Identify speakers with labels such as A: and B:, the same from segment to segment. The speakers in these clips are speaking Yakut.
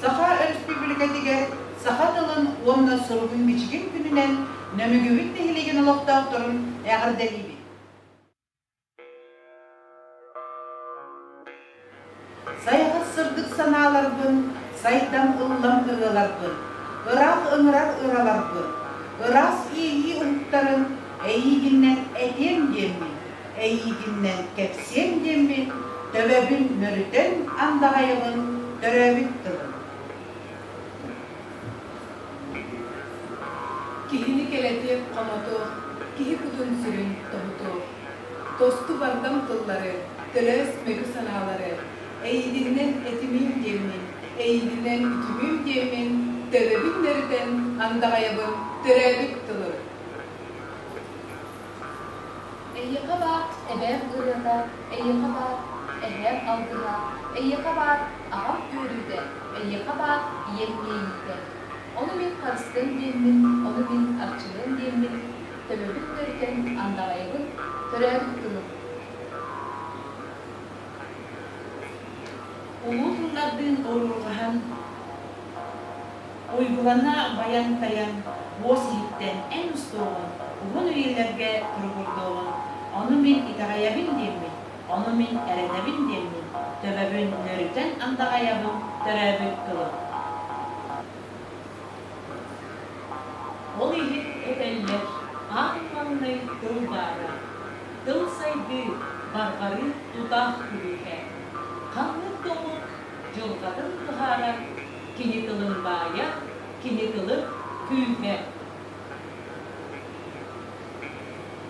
A: Саха Өрөспүүбүлүкэтигэр саха тылын уонна суругун-бичигин күнүнэн Нөмүгүбүт нэһилиэгин олохтоохторун эҕэрдэлиибит! Сайҕах сырдык санааларбын, сайдам ыллам ырыаларбын, ыраах ыҥырар ыраларбын, ыраас иэйии уһуктарын эйиигиннэн этиэм диэммин, эйиигиннэн кэпсиэм диэммин, төбөбүн мөрүтэн андаҕайымын төрөөбүт тылым. Киһини кэлэтиэх хомотуох, киһи кутун-сүрүн тоһутуох. Тосту бардам тыллары, төлөөс мөкү санаалары, эйиигиннэн этимиим диэммин, эйиигинэн үтүмүөм диэммин, төбөбүн мөрүтэн андаҕайабын төрөөбүт тылым. Эйиэхэ баар эбээм ырыата, эйиэхэ баар эһээм алгыһа, эйиэхэ баар аҕам үөрүүтэ, эйиэхэ баар ийэм иэйиитэ. Ону мин харыстыам диэммин, ону мин арчылыам диэммин, төбөбүн төрүтэн андаҕайабын, төрөөбүт тылым. Улуу тыллардыын оруоллаһан Уйгулана байан-тайан уос иһиттэн эн устуоҕун, уһун үйэлэргэ туругурдуоҕун, ону мин итэҕэйэбин диэммин, ону мин эрэнэбин диэммин төбөбүн нөрүтэн андаҕайабын төрөөбүт тылым. Ол иһит этэллэр, аан маҥнай тыл баара, тыл сайдыы, барҕарыы тутаах күлүүһэ. Ханнык тобук дьылҕатын быһаарар кини тылын баайа, кини тылын күүһэ.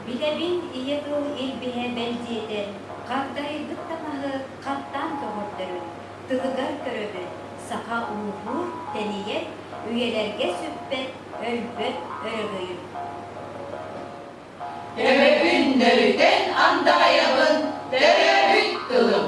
A: Билэбин ийэ тыл илбиһэ бэлдьиэтэ, хагдарыйбыт да маһы хаттаан көҕөрдөрүн, тылыгар көрөбүн, саха ууһуур, тэнийэр, үйэлэргэ сүппэт, өлбөт өрөгөйүн. Төрөппүн нөрүтэн андаҕайабын, төрөөбүт тылым.